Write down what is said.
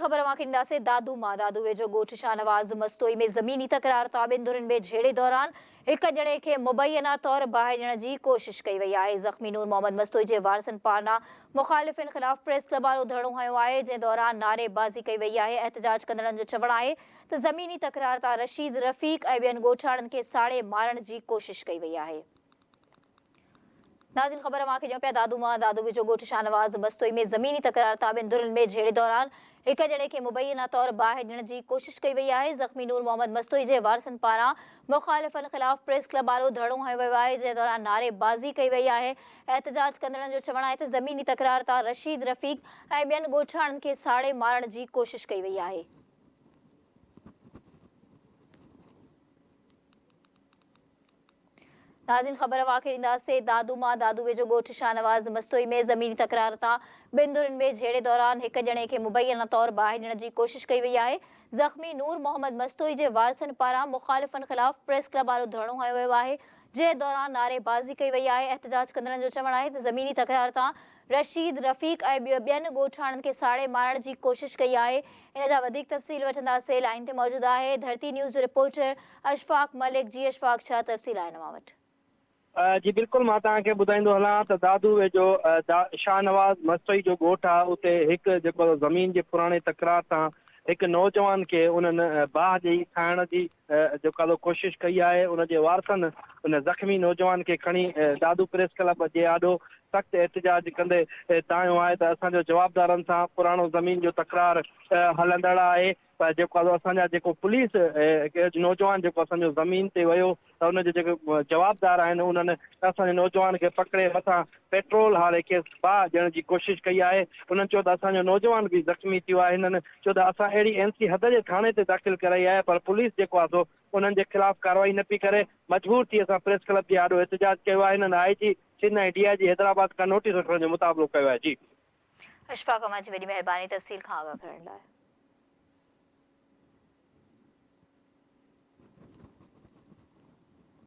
خبر اوهان کي ڏينداسين دادو مان دادو ويجهو ڳوٺ شاهنواز مستوئي ۾ زميني تڪرار تان ٻن ڌرين ۾ جهيڙي دوران هڪ ڄڻي کي مبينا طور باهه ڏيڻ جي ڪوشش ڪئي وئي آهي زخمي نور محمد مستوئي جي وارثن پارنا مخالفين خلاف پريس لبالو ڌرڻو هنيو آهي جنهن دوران نعري بازي ڪئي وئي آهي احتجاج ڪندڙن جو چوڻ آهي ته زميني تڪرار تان رشيد رفيق ۽ ٻين ڳوٺاڻن کي ساڙي مارڻ جي ڪوشش ڪئي وئي آهي. ناظرين خبر اوهان کي ڏيون پيا دادو مان دادو ويجهو ڳوٺ شاهنواز بستوئي ۾ زميني تڪرار تابعين ڌرين ۾ جهيڙي دوران هڪ ڄڻي کي مبينا طور باهه ڏيڻ جي ڪوشش ڪئي وئي آهي زخمي نور محمد مستوئي جي وارثن پاران مخالفن خلاف پريس ڪلب آڏو ڌرڻو هنيو ويو آهي جنهن دوران نعري بازي ڪئي وئي آهي احتجاج ڪندڙن جو چوڻ آهي ته زميني تڪرار تان رشيد رفيق ۽ ٻين ڳوٺاڻن کي ساڙي مارڻ جي ڪوشش ڪئي وئي آهي. ناظرين خبر اوهان کي ڏينداسين دادو مان دادو ويجهو ڳوٺ شاهنواز مستوئي ۾ زميني تڪرار تان ٻن ڌرين ۾ جهيڙي دوران هڪ ڄڻي کي مبينا طور باهه ڏيڻ جي ڪوشش ڪئي وئي آهي زخمي نور محمد مستوئي جي وارثن پاران مخالفن خلاف پريس ڪلب آڏو ڌرڻو هنيو ويو آهي جنهن دوران نعري بازي ڪئي وئي آهي احتجاج ڪندڙن جو چوڻ آهي ته زميني تڪرار تان رشيد رفيق ۽ ٻين ڳوٺاڻن کي ساڙي مارڻ جي ڪوشش ڪئي آهي ان جا وڌيڪ تفصيل وٺنداسين لائين تي موجود آهي ڌرتي نيوز جو رپورٽر اشفاق ملڪ، جي اشفاق ڇا تفصيل آهن اوهان وٽ؟ جي بلڪل مان توهان کي ٻڌائيندو هلان ته دادو ويجهو شاهنواز مستوئي جو ڳوٺ آهي اتي هڪ جيڪو زمين جي پراڻي تڪرار تان هڪ نوجوان کي انهن باهه ڏئي کائڻ جي جيڪا تو ڪوشش ڪئي آهي ان جي وارثن ان زخمي نوجوان کي کڻي دادو پريس ڪلب جي آڏو سخت احتجاج ڪندي تانيو آهي ته اسان جو جوابدارن سان پراڻو زمين جو تڪرار هلندڙ آهي ته جيڪو آهي اسان جا جيڪو پوليس نوجوان جيڪو اسان جو زمين تي ويو ته ان جي جيڪي جوابدار آهن انهن اسان جي نوجوان کي پڪڙي مٿان پيٽرول هاري کيس باهه ڏيڻ جي ڪوشش ڪئي آهي انهن چيو ته اسان جو نوجوان به زخمي ٿيو آهي انهن چيو ته اسان اهڙي ايم سي حد جي ٿاڻي تي داخل ڪرائي آهي پر پوليس جيڪو آهي سو انهن جي خلاف ڪارروائي نه پئي ڪري مجبور ٿي اسان پريس ڪلب جي آڏو احتجاج ڪيو آهي انهن آء جي سنڌ ۽ ڊي آء جي حيدرآباد کان نوٽيس وٺڻ جو مطالبو ڪيو آهي جي اشفاق احمد جي وڏي مهرباني تفصيل کان آگاهه ڪرڻ لاء.